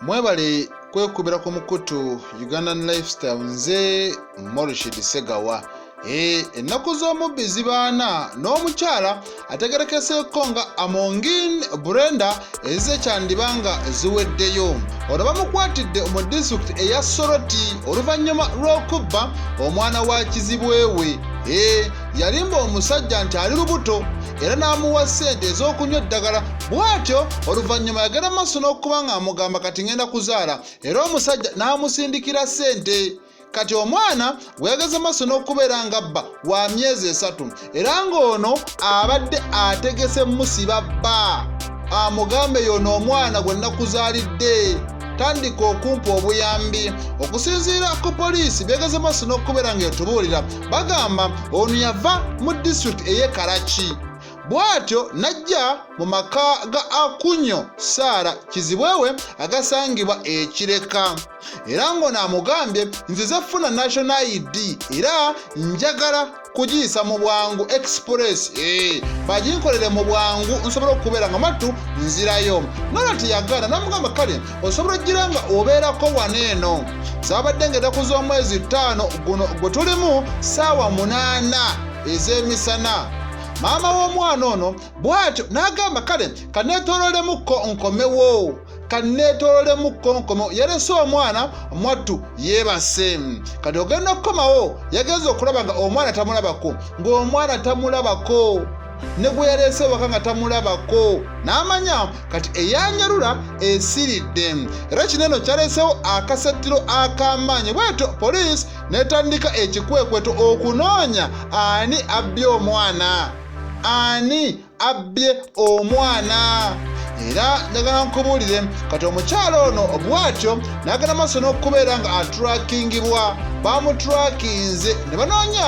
mwebale kwekubira ku mukutu ugandan lifestyle nze morishid segawa eh, ennaku z'omubbi zibaana n'omukyala ategerekeseeko nga amongin brenda ezize kyandiba nga ziweddeyo ono bamukwatidde mu disitulikiti eya soroti oluvannyuma lw'okubba omwana wa kizibwewe eh, yalimba omusajja nti ali lubuto era n'amuwa ssente ez'okunywa eddagala bw'atyo oluvannyuma yagenda mu maaso n'okuba ng'amugamba kati ngenda kuzaala era omusajja n'amusindikira ssente kati omwana gweyageze maaso n'okubeera nga bba wa myezi esatu era ng'ono abadde ategese musiba bba amugambe yono omwana gwe nakuzaalidde tandika okumpa obuyambi okusinziira ku poliisi byegeze maaso n'okubeera ng'etubuulira Bagamba ono yava mu disitulikiti ey'e Karaki bw'atyo n'ajja mu maka ga Akunyo Saara Kizibwewe agasangibwa e Kireka era ng'ono amugambye nze ze funa National ID era njagala kugiyisa mu bwangu express eh, baginkolere mu bwangu nsobole okubeera nga mattu nzirayo nolwati yagaana namugamba kale osobola okgira nga obeerako wano eno zabadde nga enaku z'omwezi ttaano guno gwe tulimu ssaawa munaana ez'emisana maama w'omwana ono bw'atyo n'agamba kale kaneetoololemukko nkomewo kaneetoololemukko nkomewo yalese omwana mwattu yeebase kati ogenda okukomawo yagenza okulaba nga omwana tamulabako ng'omwana tamulabako ne gwe yaleese waka nga tamulabako n'amanya kati eyanyalula esiridde era kino eno kyaleesewo akasattiro ak'amaanyi bwetyo poliisi n'etandika ekikwekweto okunoonya ani abbye omwana ani abbye omwana era njagala nkubuulire kati omukyalo ono bwatyo n'agenda maaso n'okubeera nga atrakingibwa bamuturakinze ne banoonya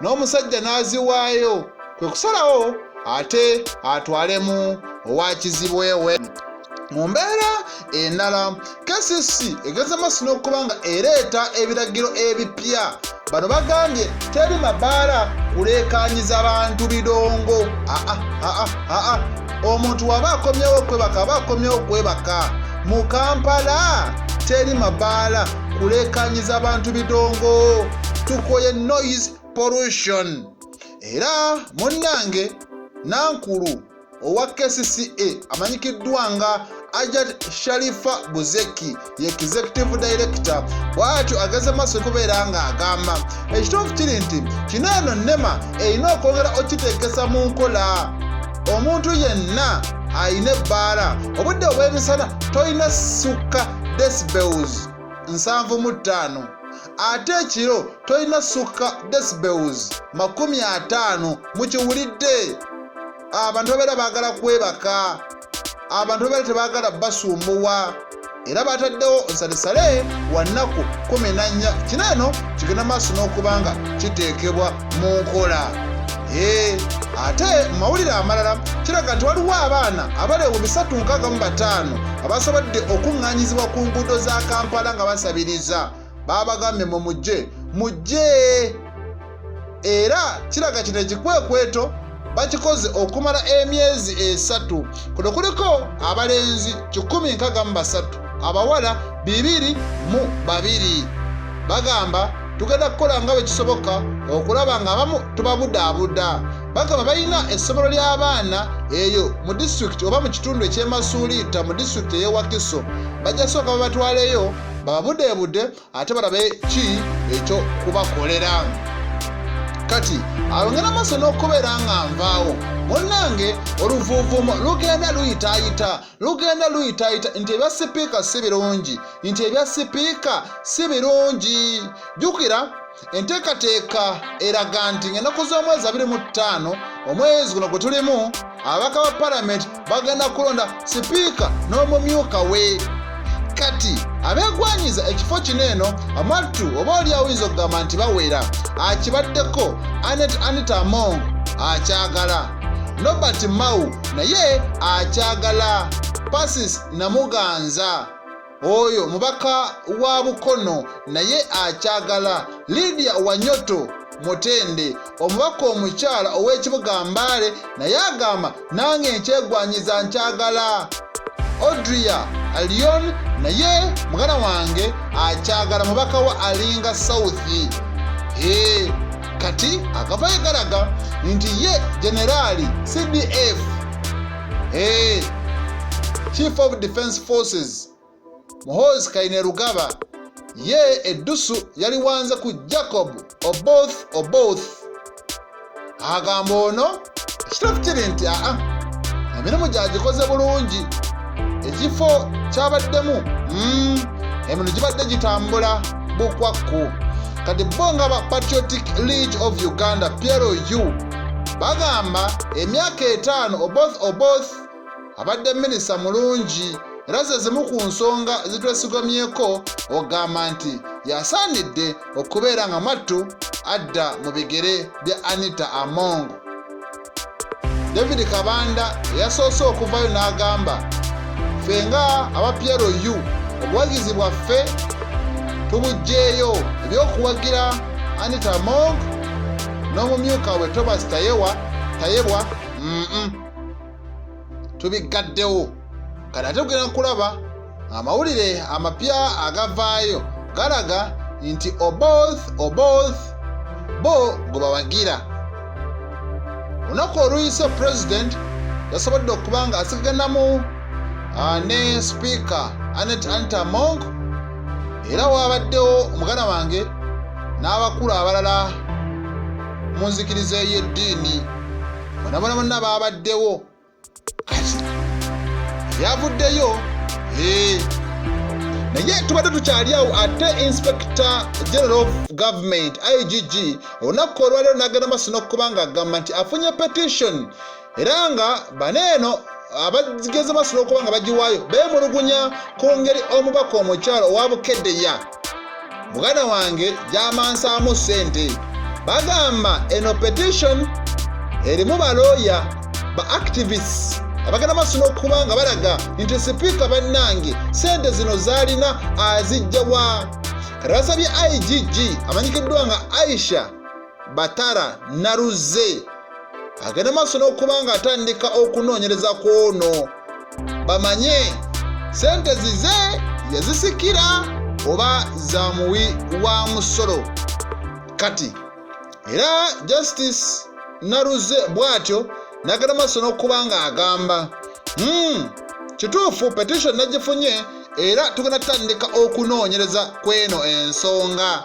n'omusajja n'aziwaayo kwe kusalawo ate atwalemu owa kizibwewe mu mbeera endala kcc egeza maaso n'okuba nga ereeta ebiragiro ebipya bano bagambye teri mabaala kuleekanyiza bantu bidongo aa ah, ah, ah, omuntu waba akomyewo okwebaka aba akomyewo okwebaka mu kampala teri mabaala kuleekanyiza bantu bidongo tukoye noise pollution era munnange nankulu owa kcca amanyikiddwa nga ajat sharifa buzeki ye executive director bwatyo ageze maaso kubeera ng'agamba ekituufu kiri nti kino eno nema erina okwongera okiteekesa mu nkola omuntu yenna alina ebbaala obudde obw'emisana tolina sukka decibels nsanvu mu ttaano ate ekiro tolina sukka decibels makumi ataano mukiwulidde abantu babeera baagala kwebaka abantu babeera tebaagala basumbuwa era bataddewo nsalisale wannaku kumi nannya kino eno kigenda maaso n'okubanga kiteekebwa mu nkola eh, ate mu mawulire amalala kiraga nti waliwo abaana abali mu bisatu nkaaga mu bataano abasobodde okuŋŋanyizibwa ku nguudo za kampala nga basabiriza baabagambye mu mujje mujje era kiraga kino ekikwekweto bakikoze okumala emyezi esatu kuno kuliko abalenzi 163 abawala bibiri mu babiri bagamba tugenda kukola nga bwe kisoboka okulaba ng'abamu tubabudaabuda bagamba balina essomero ly'abaana eyo mu disitulikiti oba mu kitundu eky'emasuuliita mu disitulikiti ey'ewakiso bajja sooka babatwaleyo bababudeebude ate balabe ki ekyo kubakolera kati alongera maaso n'okubeera nga nvaawo munnange oluvuuvuumo lugenda luyitaayita lugenda luyitaayita nti ebya sipiika si birungi nti ebya sipiika si birungi jjukira enteekateeka eraga nti ng'ennaku z'omwezi abiri mu ttaano omwezi guno gwe tulimu ababaka ba palamenti bagenda kulonda sipiika n'omumyuka we kati abeegwanyiza ekifo kino eno amattu oba oli awuyinza okugamba nti bawera akibaddeko anet anita among akyagala nobert mau naye akyagala pasis namuganza oyo mubaka wa bukono naye akyagala lidia wanyoto mutende omubaka omukyala ow'ekibuga mbaale naye agamba nange nkyegwanyiza nkyagala odria alion naye mugana wange akyagala mubaka wa alinga south ee kati akavayo galaga nti ye generali cdf Hey, eh, Chief of Defense Forces Muhoozi Kainerugaba ye eddusu yaliwanze ku Jacob Oboth Oboth agamba ono ekitatu kiri nti aa emirimu gyagikoze bulungi ekifo kyabaddemu mm, emirimu gibadde gitambula bukwakku kati bo nga ba patriotic league of uganda plu Bagamba emyaka etaano Oboth Oboth abadde minisita mulungi era ze zimu ku nsonga zitwesigamyeko ogamba nti yasaanidde okubeera nga mwattu adda mu bigere bya Anita Among. David Kabanda eyasoose okuvayo n'agamba ffe nga aba PLU obuwagizi bwaffe tubugyeyo eby'okuwagira Anita Among n'omumyuka we tobas tayewa tayebwa mm tubiggaddewo kati ate kugenda kulaba amawulire amapya agavaayo galaga nti oboth oboth bo gwe bawagira olunaku oluyise president yasobodde okuba nga asiganamu ah, ne speaker anet antamong era waabaddewo muganda wange n'abakulu abalala mu nzikiriza ey'eddiini bonabona bonna baabaddewo kati ebyavuddeyo ee eh, naye tubadde tukyali awo ate inspector general of government igg olunaku olwaliro nagenda maso nokuba nga agamba nti afunye petition era nga bano eno abageze basula okuba nga bagiwaayo beemulugunya ku ngeri omubaka omukyalo owa bukeddeya muganda wange gyamansaamu ssente bagamba eno petition erimu balooya ba activists abagenda maaso n'okuba nga balaga nti sipiika bannange ssente zino zaalina azijjawa kati basabye igg amanyikiddwa nga aisha batara naruzze agenda maaso n'okuba nga atandika okunoonyereza ku ono bamanye sente zize yazisikira oba za muwi wa musolo kati era justice naruzze bw'atyo nagenda maaso n'okuba nga agamba hmm, kituufu petition nagifunye era tugenda tutandika okunoonyereza kw'eno ensonga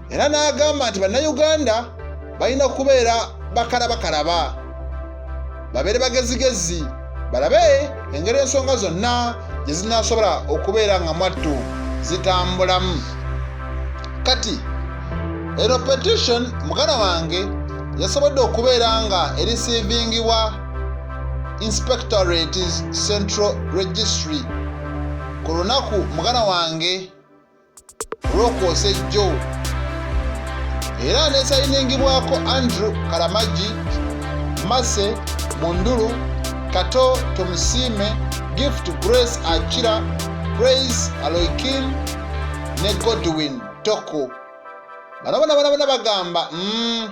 era n'agamba nti bannayuganda balina kubeera bakalabakalaba babeere bagezigezi balabe engeri ensonga zonna gye zinaasobola okubeera nga mwattu zitambulamu kati eno petition muganda wange yasobodde okubeera nga erisivingibwa inspectorate central registry ku lunaku muganda wange Rokose Joe era aneesayiningibwako Andrew Karamagi, Mase Mundulu, Kato Tomusiime, Gift Grace Akira, Praise Aloikin ne Godwin Toko. Bano bona bona bona bagamba mm,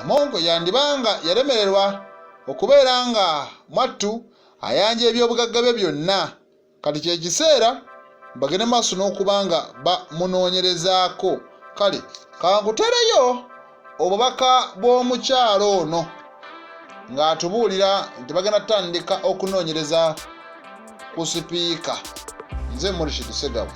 Amongo yandibanga yalemererwa okubeera nga mwattu ayanja ebyobugagga bye byonna. kati kye kiseera bagende maaso n'okuba nga bamunoonyerezaako kale kankutereyo obubaka bw'omukyalo ono ng'atubuulira nti bagenda tutandika okunoonyereza ku sipiika nze murishid segabu